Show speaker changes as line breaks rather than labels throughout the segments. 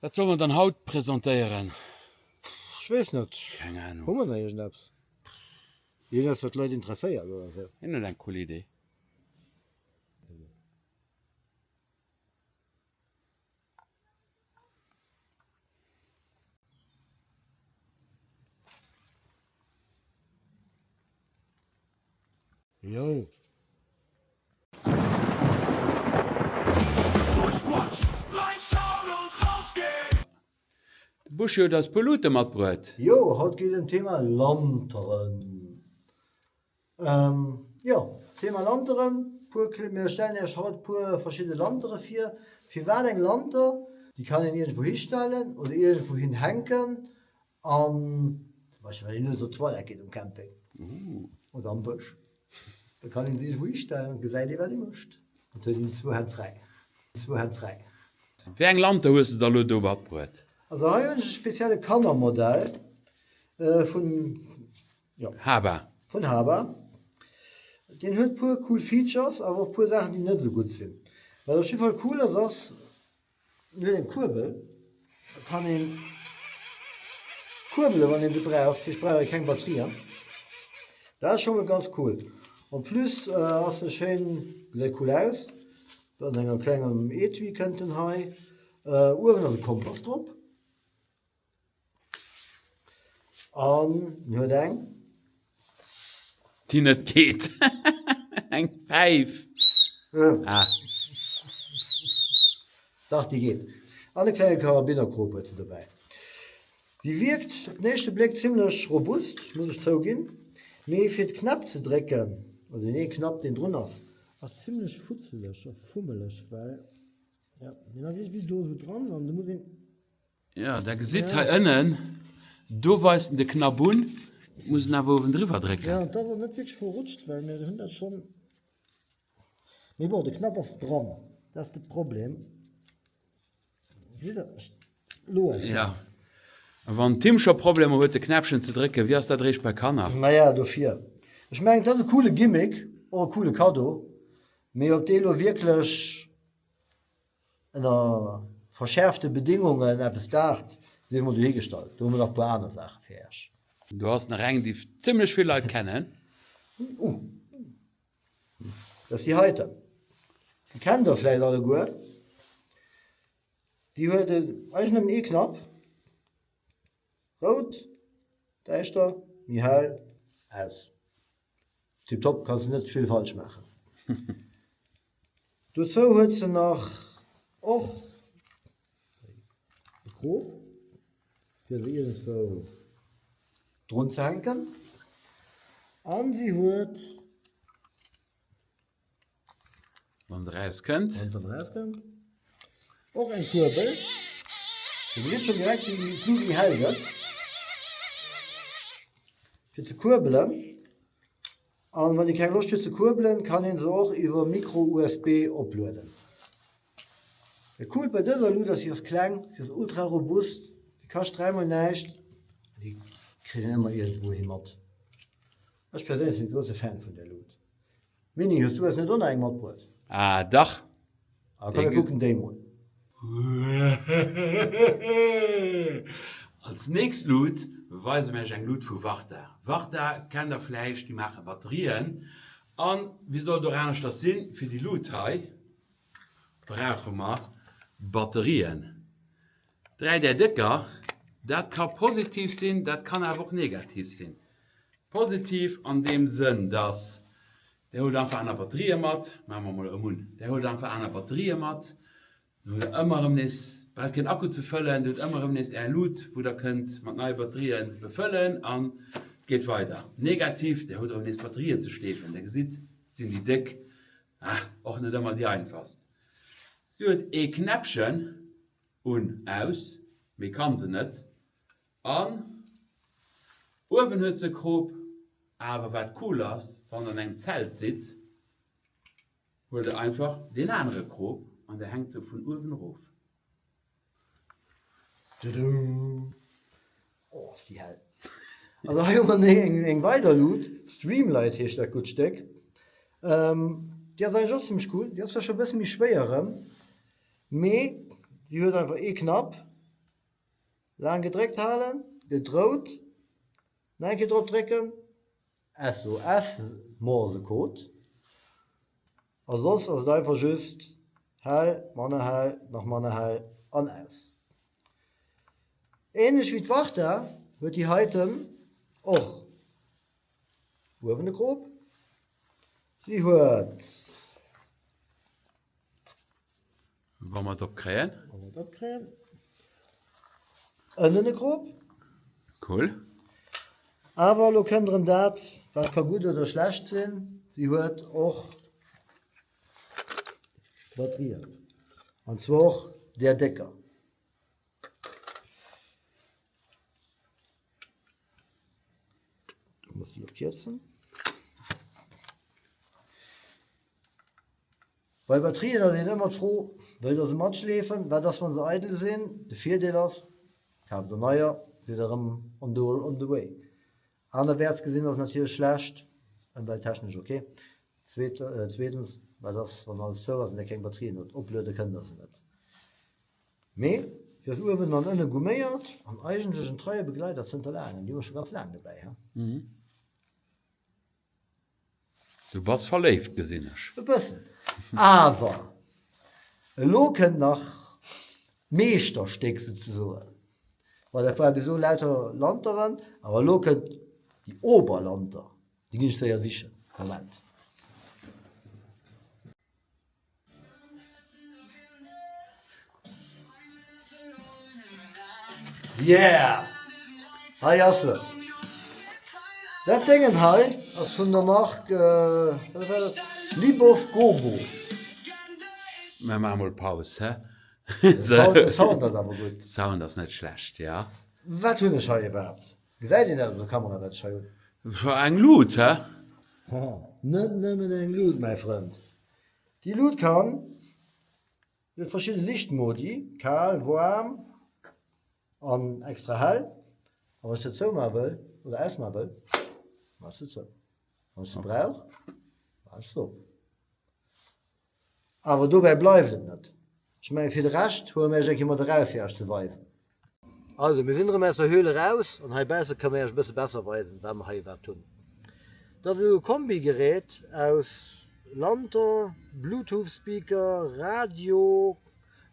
Wat soll mer dann haut presentéieren? Ech
weess net. Keng Ahnung. Hu mer nach
iergendeppes?
Iergendeppes, wat d'Leit interesséiert oder esou? Hien huet eng cool Idee. Yo.
De Buschi huet eis puer Luuten matbruet. Jo, haut geet et em
d'Thema Lanteren. Jo, Thema Lanteren, puer kle, mir stellen iech haut puer verschidde Lantere vir. Firwat eng Lanter? Déi kann een iergendwou histellen oder iergendwou hin hänken An ech well een ënser Toilette geet um Camping oder am Bësch, da kann een sech ewou histellen an gesäit ee wat ee mécht an huet een zwou Hänn fräi, zwou Hänn fräi.
Wéi eng Lampe hues de da lo do matbruet? Also hei hunn ech e
spezielle Kannermodell vun, jo. Haba. Vun Haba. Deen huet puer cool Features awer och puer Saachen déi net esou gutt sinn. Wat op jiddwer Fall cool ass, ass Huet eng Kuerbel, kann een kuerbelen wann een se braucht, hech brauch jo keng Batterien. Dat ass scho mol ganz cool. En plus ass se schéin, gesäit cool aus, an engem klengem Etui kënnt en hei. Uewen ass e Kompass drop. An hien huet eng.
Déi net geet. Eng Päif.
Dach, déi geet. An e klenge Karabinerkrop huet se dobäi. Déi wierkt op den éischte Bléck zimmlech robust, muss ech zouginn, mee fir d'Knäpp ze drécken, oder deen ee Knapp, deen drun ass. Ass zimmlech futzeleg a fummeleg, well, jo, deen ass iergendwéi do esou dran an do muss een. Ja, da
gesitt hei ënnen, do weist en de Knapp un. Et muss en awer uewen driwwer drécken. Ja, an t'ass och net wierklech
verrutscht, well mir hunn dat schonn. Mee bon, de Knapp ass dran, dat ass de Problem. Gesitt Der? Ech, elo ass. Ja.
A wann Tim scho Problemer huet de Knäppchen ze drécken, wéi ass dat eréischt bei Kanner? Naja, dofir.
Ech mengen, t'ass e coole Gimmick, och e coole Kaddo. Mee ob dee elo wierklech. Ënner verschäerfte Bedéngungen eppes d'Aart si emol dohi gestallt. Do hu mer nach e puer aner Saache fir Äech. Do ass nach
eng, déi zimmlech vill Leit kennen.
Dat ass déi heiten. Déi kennt Der vläit alleguer. Déi huet eigenem ee Knapp. Rout, däischter, méi hell, aus. Tiptop, kanns de net vill falsch maachen. Dozou huet se nach och e Krop fir se iergendwou drunzehänken an si huet.
Wann der raus kënnt. Wann der raus kënnt.
Och eng Kurbel. Du gesitt schon direkt wéi déi Kugel hell gëtt. Fir ze kurbelen. An wann dir keng Loscht hutt ze kurbelen, kann een se och iwwer Micro USB oplueden. Dat coolt bei dëser Luut ass, si ass kleng, si ass ultra robust, si kascht dräimol näischt. Déi kritt een ëmmer iergendwouhi mat. Ech perséinlech sin grousse Fan vun der Luut. Mini, hues du eis net o nach eng matbruet? Ah dach!
Ah komm mir
kucken déi mol.
Als nächst Luut weise mir iech eng Luut vu Varta. Varta kennt der vläicht, déi maache Batterien. An wéi soll et och aneschters sinn, fir déi Luut hei brauche mer Batterien. Dräi Där Décker, dat ka positiv sinn, dat kann awer och negativ sinn. Positiv an deem Sënn, dass Der hutt einfach aner Batterië mat, maache mer emol erëm un, Der hutt einfach aner Batterië mat, dann hutt Der ëmmer erëm nees, braucht keen Akku ze fëllen, Dir hutt ëmmer erëm nees Är Lut, wou Der kënnt mat neie Batterië befëllen an et geet weider. Negativ, Der hutt erëm nees Batterië ze schleefen. Der gesitt, et sinn déi déck, ah, och net ëmmer déi einfachst. Si huet ee Knäppchen. Un, aus, mee kann se net. An uewen huet se Krop. Awer wat cool ass, wann der an engem Zelt sidd, huelt der einfach deen anere Krop an der hänkt se vun uewen erof. Dudum!
Oh, ass déi hell! Also hei hu mer neg eng weider Luut. Streamlight heescht dat gutt Stéck. Déi ass eigentlech och zimmlech cool. Déi ass vläch scho e bësse méi schwéier erëm. Mee si huet einfach ee Knapp, laang gedréckt halen, gëtt rout, nach eng Kéier drop drécken, SOS Morsecode, a soss ass et einfach just hell, manner hell, nach manner hell an aus. Ähnlech wéi d'Varta huet déi heiten och uewen e Krop, si huet.
Wa mer et op kréien. Wa mer et op kréien.
Ënnen e Crop. Cool. Awer elo kënnt erëm dat, wat ka gutt oder schlecht sinn, si huet och Batterien. An zwar och där décker. Muss déi elo kierzen. Bei Batterien ass een ëmmer d'Fro, wëllt der se matschleefen? Wat ass wann se eidel sinn? De Virdeel ass, kaaft der neier, sidd der erëm on the on the way. Anerwäerts gesinn ass et natierlech schlecht, ëmwelttechnesch ok. Zweet zweetens, wat ass wann alles zou ass an der keng Batterien hutt? Opluede kënnt der se net. Mee se ass uewen an ënne gumméiert an eigentlech en treie Begleider zënter laangem. Déi hu mer scho ganz laang dobäi.
Du bass verléift, gesinn ech. E bëssen.
Awer elo kënnt nach d'Meeschterstéck souzesoen. Well dat war bis elo lauter Lanteren, awer elo kënnt déi Oberlanter. Déi ginn ech séier sichen. Moment. Yeah! Hei ass se! Dat Déngen hei ass vun der Mark, wéi war dat? Libov Gogo.
Mir maache mol Paus, hä? De Sound ass awer gutt.
De Sound ass net schlecht,
jo. Wat hunn ech hei
iwwerhaapt? Gesäit een dat op der Kamera wat ech hei hunn? Scho eng Luut,
hä? Haha,
net nëmmen eng Luut, mäi Frënd. Déi Luut kann, déi huet verschidde Lichtmodi, kal, waarm an extra hell. A wann ech se zoumaache wëll oder ausmaache wëll, maache ech se zou. Wann ech se brauch, maache ech se op. Awer dobäi bleift et net. Ech mengen, fir de Rescht hu mer iech eng Kéier mat eraus fir iech ze weisen. Also, mir sinn erëm aus der Höhle eraus an heibausse kënne mer iech e bësse besser weisen, wat mer hei iwwerhaapt hunn. Dat ass e Kombigerät aus Lanter, Bluetooth-Speaker, Radio,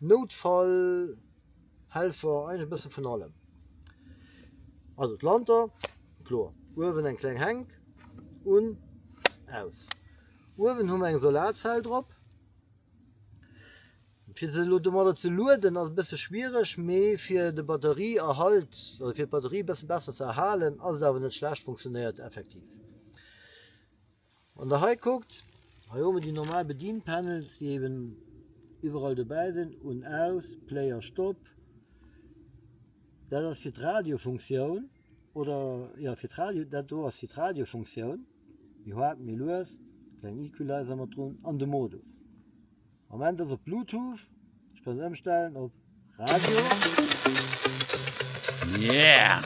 Noutfallhelfer, eigentlech e bësse vun allem. Also d'Lanter, kloer. Uewen eng kleng Hänk, un, aus. Uewen hu mer eng Solarzell drop. Fir se elo domadder ze lueden ass e bësse schwiereg, mee fir de Batterieerhalt, also fir d'Batterie e bësse besser ze erhalen, ass et awer net schlecht, funktionéiert effektiv. Wann der hei kuckt, hei hu mer déi normal Bedienpanels, déi eben iwwerall dobäi sinn, un, aus, Play a Stop. Dat ass fir d'Radiofunktioun oder jo fir d'Radio, dat do ass fir d'Radiofunktioun, méi haart, méi lues, kleng Equalizer mat drun an de Modus. Moment ass op Bluetooth, ech kann ëmstellen op Radio.
Yeah!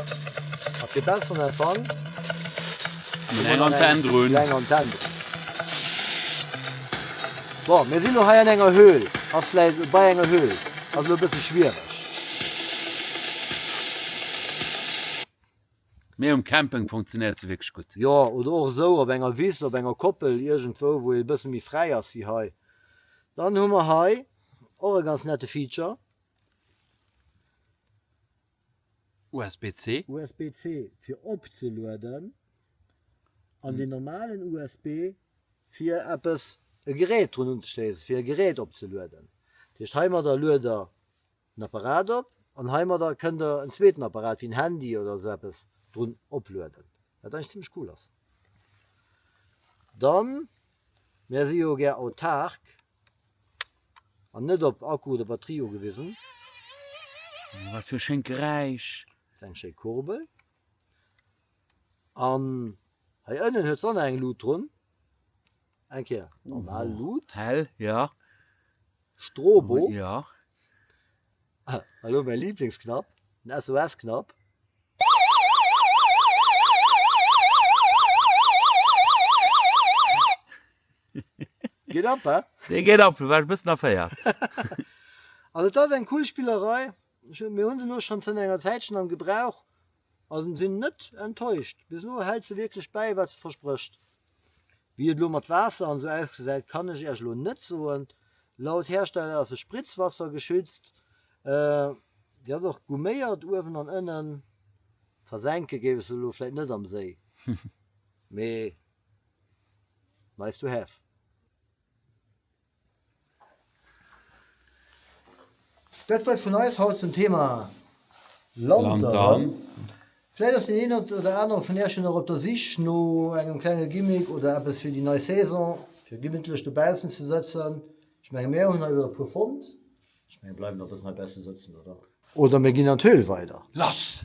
A fir
besseren Empfang.
Eng Antenn drun. Eng Antenn drun.
So, mir sinn lo hei an enger Höhl. Ass vläit bei enger Höhl. Ass lo e bësse schwiereg.
Mee um Camping funktionéiert se wierklech gutt. Jo, oder och esou op
enger Wiss, op enger Koppel, iergendwou wou ee bësse méi fräi ass wéi hei. Dann hu mer hei och e ganz nette Feature.
USB-C. USB-C fir
opzelueden an den normalen USB fir eppes, e Gerät drun unzeschléisen, fir e Gerät opzelueden. Dat heescht heimadder luet der en Apparat op an heimadder kënnt der en zweeten Apparat wéi en Handy oder esou eppes drun oplueden, wat eigentlech zimmlech cool ass. Dann, mär si jo gär autark an net op Akku oder Batterie ugewisen.
Oh, wat fir e schéint Geräisch! Dat ass eng schéi
Kurbel. An hei ënnen huet se och nach eng Lut drun. Eng Kéier normal Lut. Hell, jo. Strobo. Ja. An elo mäi Liblingsknapp, den SOS-Knapp. Geet ab, he? Dee
geet ab, do war
ech e bëssen
erféiert. Also et ass eng
cool
Spillerei.
Mir hunn se elo schonn zënter enger Zäitchen am Gebrauch a sinn net enttäuscht. Bis elo hält se wierklech bäi, wat se versprécht. Wéi et elo mat Waasser an esou ausgesäit, kann ech Iech elo net soen. Laut Hersteller ass se spritzwassergeschützt, se ass och gumméiert uewen an ënnen. Versenke géif ech se elo vläicht net am Séi, mee nice to have. Dat war et vun eis haut zum Thema Lantern. Lantern. Vläit ass deen een oder anere vun Iech jo nach op der Sich no engem klenge Gimmick oder eppes fir déi nei Saison, fir gemittlech dobaussen ze sëtzen. Ech menge mir hunn hei elo e puer fonnt. Ech menge mir bleiwen nach e bëssen heibausse sëtzen, oder? Oder mir ginn an d'Höhl weider. Lass!